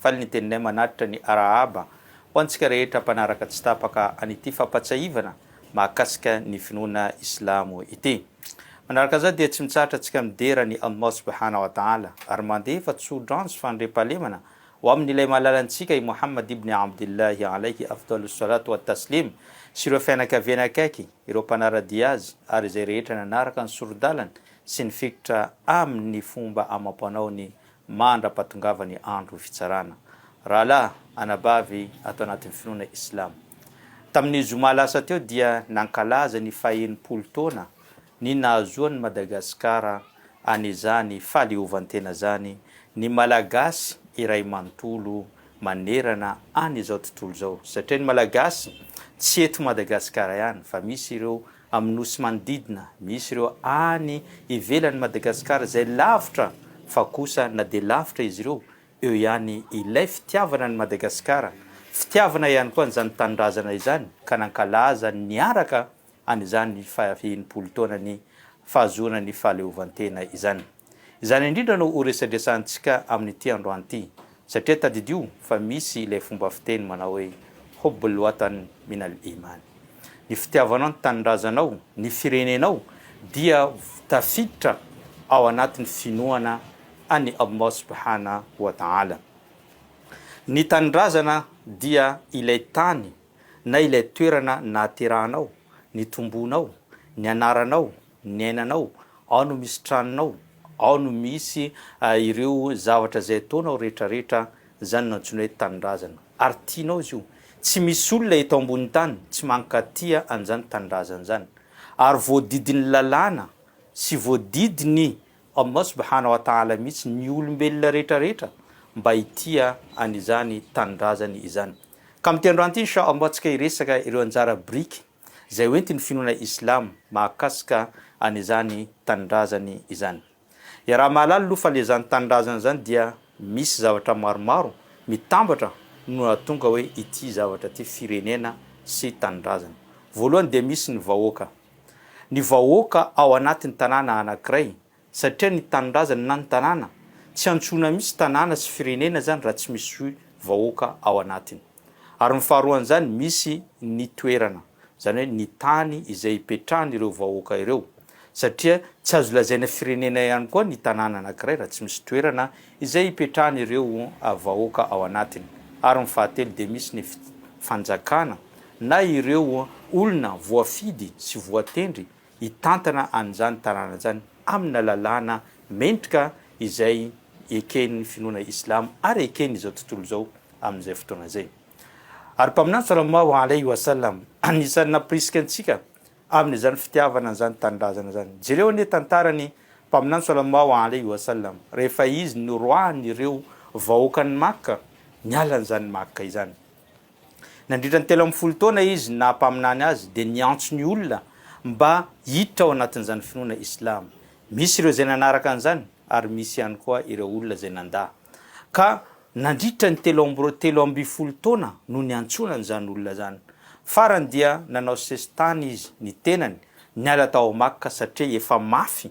Faly ny teninay manatitra ny arahaba ho antsika rehetra mpanaraka tsy tapaka an'ity fampatsiahivana mahakasika ny finoana Islamo ity. Manaraka izany dia tsy mitsahatra antsika midera an'i Allah Subhanahu wa Ta'ala ary mandefa tso-dranjo fandriampahalemana ho amin'ilay Malala antsika i Muhammad ibn Abdillahi Alayhi Afdalus Salatu wa Taslim sy ireo fianakaviany akaiky, ireo mpanara-dia azy ary izay rehetra nanaraka ny sori-dalany sy nifikitra aminy ny fomba amam-panaony mandra-pahatongava ny andro fitsarana rahalahy anabavy ato anatin'ny finoana Islamo. Tamin'ny zoma lasa teo dia nankalaza ny fahenimpolo taona ny nahazoan'i Madagasikara an'izany fahaleovantena izany ny Malagasy iray manontolo manerana an'izao tontolo izao satria ny Malagasy tsy eto Madagasikara ihany fa misy ireo Amin'ny nosy manodidina, misy ireo any ivelan'i Madagasikara izay lavitra fa kosa na dia lavitra izy ireo, eo ihany ilay fitiavana an'i Madagasikara, fitiavana ihany koa an'izany tanindrazana izany ka nankalaza niaraka an'izany faha enimpolo taonan'ny fahazoana ny fahaleovantena izany. Izany indrindra no ho resadresahantsika amin'ity androany ity, satria tadidio fa misy ilay fomba fiteny manao hoe Hubbul Watan min al Iman. Ny fitiavanao ny tanindrazanao, ny firenenao dia tafiditra ao anatin'ny finoana an'i Allah Subhana wa Ta'ala. Ny tanindrazana dia ilay tany na ilay toerana nahaterahanao, nitomboanao, nianaranao, niainanao, ao no misy tranonao, ao no misy ireo zavatra izay ataonao rehetrarehetra, izany no antsoina hoe tanindrazana, ary tianao izy io, tsy misy olona eto ambonin'ny tany tsy mankatia an'izany tanindrazana izany, ary voadidin'ny lalàna sy voadidin'i Allah subhana wa ta'ala mihitsy ny olombelona rehetrarehetra mba hitia an'izany tanindrazany izany, ka amin'ity androany ity insha Allah antsika hiresaka ireo anjara biriky izay hoentin'ny finoana Islamo mahakasika an'izany tanindrazany izany. Iaraha-mahalala aloha fa ilay izany tanindrazana izany dia misy zavatra maromaro mitambatra no nahatonga hoe ity zavatra ity firenena sy tanindrazana. Voalohany dia misy ny vahoaka. Ny vahoaka ao anatin'ny tanàna anankiray satria ny tanindrazana na ny tanàna tsy antsoina mihitsy tanàna sy firenena zany raha tsy misy vahoaka ao anatiny ary ny faharoan'izany misy ny toerana zany hoe ny tany izay hipetrahan'ireo vahoaka ireo satria tsy azo lazaina firenena ihany koa ny tanàna anankiray raha tsy misy toerana izay hipetrahan'ireo vahoaka ao anatiny ary ny fahatelo dia misy ny fanjakana na ireo olona voafidy sy voatendry hitantana an'izany tanàna izany amina lalàna mendrika izay eken'ny finoana islamo ary eken'izao tontolo izao amin'izay fotoana izay. Ary Mpaminany salallahu alaihi wa sallam anisan'ny nampirisika antsika amin'izany fitiavana an'izany tanindrazana izany. Jereo anie tantaran'ny Mpaminany salallahu alaihi wa sallam rehefa izy noroahan'ireo vahoakan'i Makka niala an'izany Makka izany. Nandritra ny telo ambin'ny folo taona izy naha mpaminany azy dia niantso ny olona mba hiditra ao anatin'izany finoana Islam. Misy ireo izay nanaraka an'izany ary misy ihany koa ireo olona izay nandà. Ka nandritra ny telo amby roa telo ambin'ny folo taona no niantsoana an'izany olona izany. Farany dia nanao sesitany izy ny tenany niala tao Makka satria efa mafy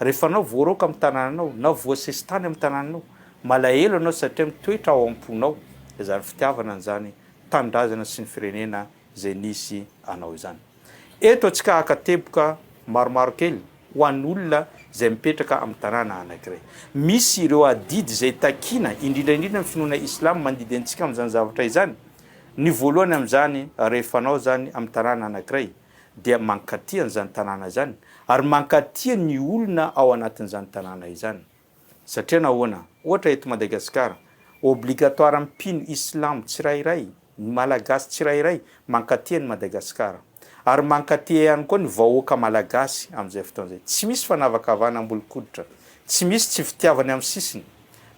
Rehefa anao voaroaka amin'ny tanànanao na voasesitany amin'ny tanànanao, malahelo ianao satria mitoetra ao am-ponao izany fitiavana an'izany tanindrazana sy ny firenena izay nisy anao izany. Eto antsika haka teboka maromaro kely ho an'olona izay mipetraka amin'ny tanàna anankiray. Misy ireo adidy izay takiana, indrindra indrindra ny finoana islam mandidy antsika amin'izany zavatra izany. Ny voalohany amin'izany, rehefa anao izany amin'ny tanàna anankiray, dia mankatia an'izany tanàna izany ary mankatia ny olona ao anatin'izany tanàna izany. Satria nahoana? Ohatra eto Madagasikara, obligatoire mpino islamo tsirairay, ny malagasy tsirairay mankatia an'i Madagasikara. Ary mankatia ihany koa ny vahoaka malagasy amin'izay fotoana izay. Tsy misy fanavakavahana ambolo-koditra, tsy misy tsy fitiavana amin'ny sisiny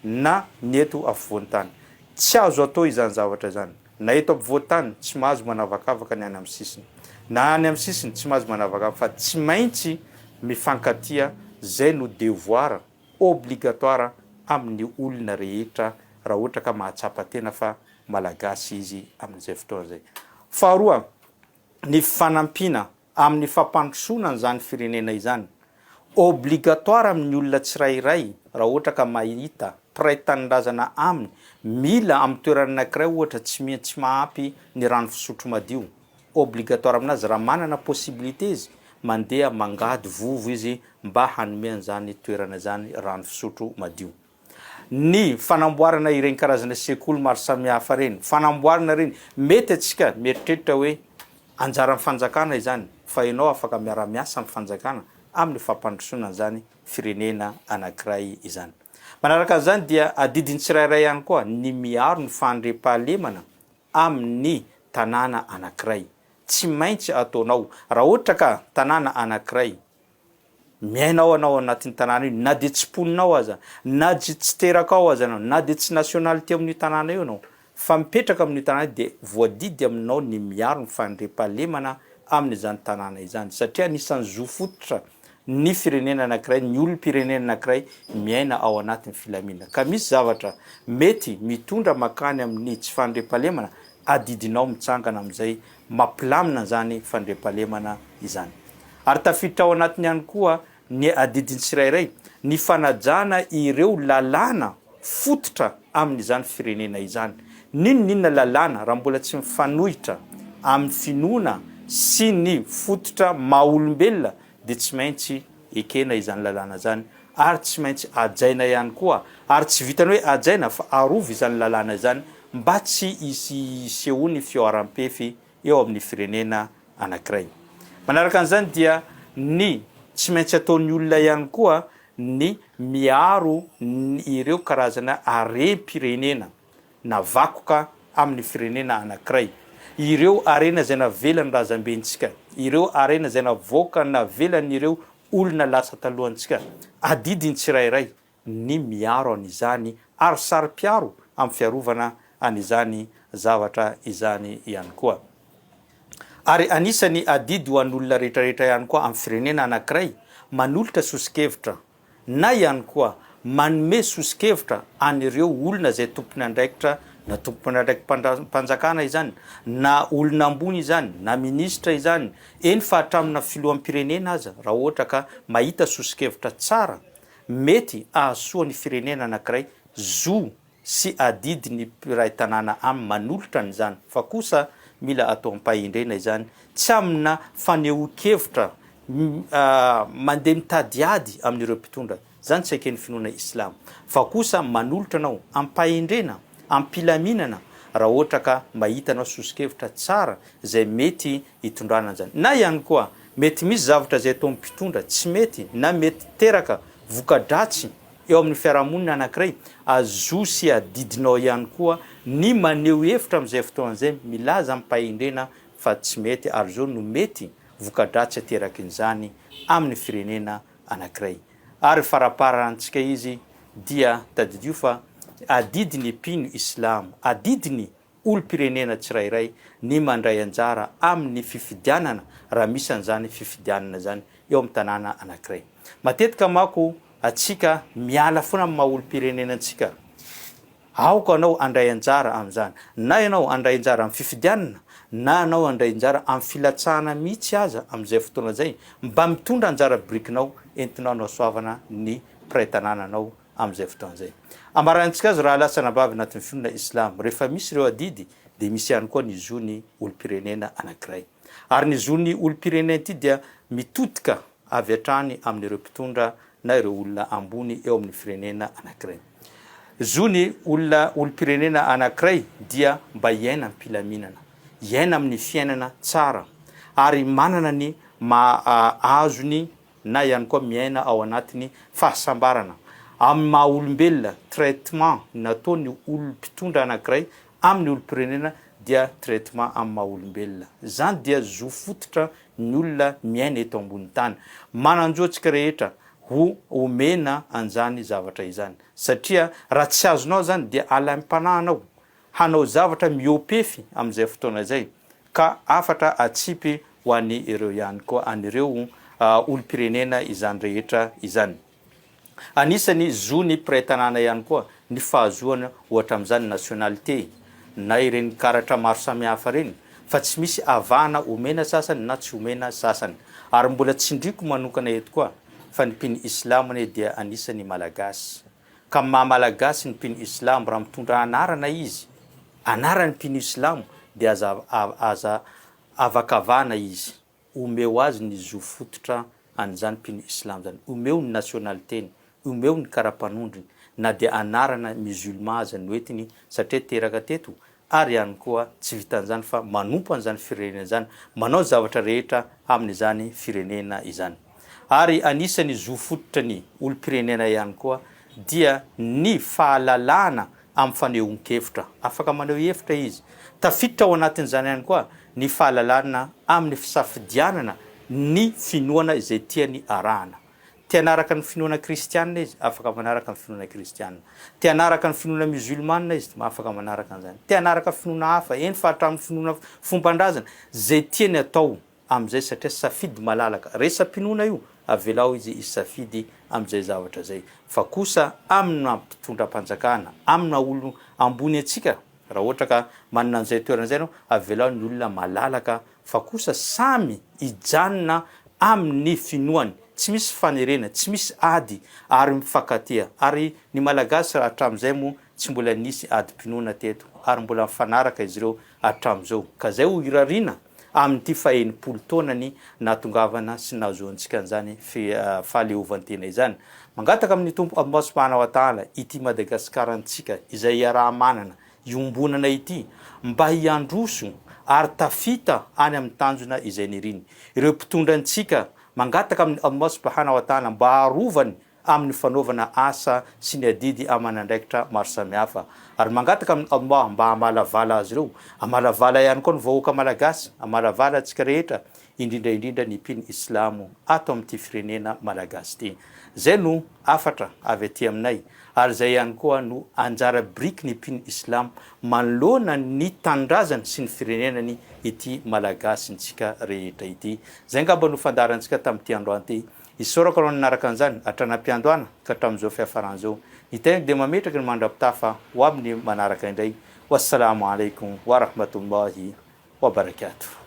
na ny eto afovoan-tany. Tsy azo atao izany zavatra izany. Na eto ampovoan-tany, tsy mahazo manavakavaka ny any amin'ny sisiny. Na any amin'ny sisiny, tsy mahazo manavakavaka fa tsy maintsy mifankatia, izay no devoir obligatoire amin'ny olona rehetra raha ohatra ka mahatsapa tena fa Malagasy izy amin'izay fotoana izay. Faharoa, ny fanampiana amin'ny fampandrosoana an'izany firenena izany. Obligatoire amin'ny olona tsirairay raha ohatra ka mahita mpiray tanindrazana aminy mila amin'ny toerana anankiray ohatra tsy miha tsy mahampy ny rano fisotro madio. Obligatoire aminazy raha manana possibilité izy mandeha mangady vovo izy mba hanome an'izany toerana izany rano fisotro madio. Ny fanamboarana ireny karazana sekoly maro samihafa ireny, fanamboarana ireny, mety antsika mieritreritra hoe anjaran'ny fanjakana izany, fa ianao afaka miara-miasa amin'ny fanjakana amin'ny fampandrosoana an'izany firenena anankiray izany. Manaraka an'izany dia adidin'ny tsirairay ihany koa ny miaro ny fandriampahalemana amin'ny tanàna anankiray. Tsy maintsy ataonao raha ohatra ka tanàna anankiray Miaina ao anao ao anatin'io tanàna io na dia tsy mponina ao aza, na dia tsy teraka ao aza anao, na dia tsy nationalité ao amin'io tanàna io anao, fa mipetraka amin'io tanàna io dia voadidy aminao ny miaro ny fandriampahalemana amin'izany tanàna izany satria anisan'ny zo fototra ny firenena anankiray, ny olom-pirenena anankiray miaina ao anatin'ny filaminana. Ka misy zavatra mety mitondra mankany amin'ny tsy fandriampahalemana, adidinao mitsangana amin'izay mampilamina izany fandriampahalemana izany. Ary tafiditra ao anatiny ihany koa ny adidiny tsirairay ny fanajana ireo lalàna fototra amin'izany firenena izany. N'inon'inona lalàna raha mbola tsy mifanohitra amin'ny finoana sy ny fototra maha-olombelona dia tsy maintsy ekena izany lalàna izany ary tsy maintsy hajaina ihany koa, ary tsy vitan'ny hoe hajaina fa arovy izany lalàna izany mba tsy hisy hisehoan'ny fihoaram-pefy eo amin'ny firenena anankiray. Manaraka an'izany dia ny tsy maintsy ataon'ny olona ihany koa ny miaro ny ireo karazana harem-pirenena na vakoka amin'ny firenena anankiray. Ireo harena izay navelan'ny razambentsika, ireo harena izay navoaka navelan'ireo olona lasa talohantsika. Adidin'ny tsirairay ny miaro an'izany ary saro-piaro amin'ny fiarovana an'izany zavatra izany ihany koa. Ary anisan'ny adidy ho an'olona rehetrarehetra ihany koa amin'ny firenena anankiray manolotra soso-kevitra. na ihany koa manome soso-kevitra an'ireo olona izay tompon'andraikitra, na tompon'andraikim-panjakana izany, na olona ambony izany, na minisitra izany, eny fa hatramina filoham-pirenena aza, raha ohatra ka mahita soso-kevitra tsara mety hahasoa ny firenena anankiray, zo sy adidy ny mpiray tanàna am manolotra an'izany fa kosa mila atao am-pahendrena izany tsy amina fanehoan-kevitra mandeha mitady ady amin'ireo mpitondra, izany tsy eken'ny finoana islamo, fa kosa manolotra anao am-pahendrena, am-pilaminana raha ohatra ka mahita anao soso-kevitra tsara izay mety hitondrana an'izany. Na ihany koa mety misy zavatra izay ataon'ny mpitondra tsy mety na mety teraka voka-dratsy. Eo amin'ny fiarahamonina anankiray, azo zo sy adidinao ihany koa ny maneho hevitra amin'izay fotoana izay, milaza amim-pahendrena fa tsy mety ary izao no mety voka-dratsy aterakin'izany amin'ny firenena anankiray. Ary faraparantsika izy dia tadidio fa adidy ny mpino islamo, adidy ny. olom-pirenena tsirairay ny mandray anjara amin'ny fifidianana, raha misy an'izany fifidianana izany eo amin'ny tanàna anankiray. Matetika manko antsika miala foana amin'ny maha olom-pirenena antsika. Aoka anao handray anjara amin'izany. Na ianao handray anjara amin'ny fifidianana, na ianao handray anjara amin'ny filatsahana mihitsy aza amin'izay fotoana izay, mba mitondra anjara birikinao entinao hanasoavana ny mpiray tanàna anao amin'izay fotoana izay. Ambaranintsika azy raha lasa anabavy anatin'ny finoana Islam. Rehefa misy ireo adidy dia misy ihany koa ny zon'ny olom-pirenena anankiray. Ary ny zon'ny olom-pirenena ity dia mitodika avy hatrany amin'ireo mpitondra na ireo olona ambony eo amin'ny firenena anankiray. Zon'ny olona olom-pirenena anankiray dia mba hiaina am-pilaminana, hiaina amin'ny fiainana tsara ary manana ny maha azony na ihany koa miaina ao anatin'ny fahasambarana amin'ny maha olombelona, traitement nataon'ny olom pitondra anankiray amin'ny olom-pirenena dia traitement amin'ny maha olombelona. Izany dia zo fototra ny olona miaina eto ambony tany. Manan-jo antsika rehetra ho omena an'izany zavatra izany satria raha tsy azonao izany dia alaim-panahinao hanao zavatra mihoa-pefy amin'izay fotoana izay, ka hafatra hatsipy ho an' ireo ihany koa, an' ireo olom-pirenena izany rehetra izany. Anisan'ny zon'ny mpiray tanàna ihany koa ny fahazoana ohatra amin'izany nationalité na ireny karatra maro samihafa ireny, fa tsy misy avahana omena sasany na tsy omena sasany. Ary mbola tsindriako manokana eto koa fa ny mpino Islam anie dia anisan'ny Malagasy. ka maha malagasy ny mpino islamo raha mitondra anarana izy anaran'ny mpino islamo dia aza aza avakavahana izy omeo azy ny zo fototra an'izany mpino islamo zany omeo ny nationaliteny omeo ny karapanondrony na dia anarana musulman aza noentiny satria teraka teto ary ihany koa tsy vitan'izany fa manompo an'izany firenena izany, manao zavatra rehetra amin'izany firenena izany. Ary anisan'ny zo fototra ny olom-pirenena ihany koa dia ny fahalalahana amin'ny fanehoan-kevitra, afaka maneho hevitra izy. Tafiditra ao anatin'izany ihany koa ny fahalalahana amin'ny fisafidianana ny finoana izay tiany arahana. Te hanaraka ny finoana kristiana izy, afaka manaraka ny finoana kristiana. Te hanaraka ny finoana miozolmana izy, afaka manaraka an'izany. Te hanaraka finoana hafa, eny fa hatramin'ny finoana fomban-drazana, izay tiany atao amin'izay satria safidy malalaka. Resa-pinoana io, avelao izy hisafidy amin'izay zavatra izay. Fa kosa amin'ny maha mpitondram-panjakana, amin'ny maha olona ambony antsika, raha ohatra ka manana an'izay toerana izay ianao, avelao ny olona malalaka fa kosa samy hijanona amin'ny finoany, tsy misy fanerena, tsy misy ady ary mifankatia, ary ny Malagasy raha hatramin'izay moa tsy mbola nisy adim-pinoana teto ary mbola mifanaraka izy ireo hatramin'izao, ka izay ho irariana amin'ity fahenimpolo taonany nahatongavana sy nahazoantsika an'izany fahaleovantena izany. Mangataka amin'ny Tompo Ambasy Mpanao Ataala ity Madagasikara antsika izay iaraha-manana iombonana ity mba hiandroso ary tafita any amin'ny tanjona izay niriny. Ireo mpitondra antsika mangataka amin'i Allah subhana wa ta'ala mba harovany amin'ny fanaovana asa sy ny adidy aman'andraikitra maro samihafa ary mangataka amin'i Allah mba hamalavala azy ireo. Hamalavala ihany koa ny vahoaka malagasy, hamalavala antsika rehetra indrindra indrindra ny mpino islamo ato amin'ity firenena malagasy ity. Izay no hafatra avy aty aminay ary izay ihany koa no anjara biriky ny mpino islamo manoloana ny tanindrazany sy ny firenenany ity malagasintsika rehetra ity. Izay angamba no fandaharantsika tamin'ity androany ity. Isaorako anao nanaraka an'izany hatrany am-piandohana ka hatramin'izao fiafarany izao. Ny tenako dia mametraka ny mandra-pitafa ho amin'ny manaraka indray. Wassalaamu alaikum wa rahmatullahi wa barakatuh.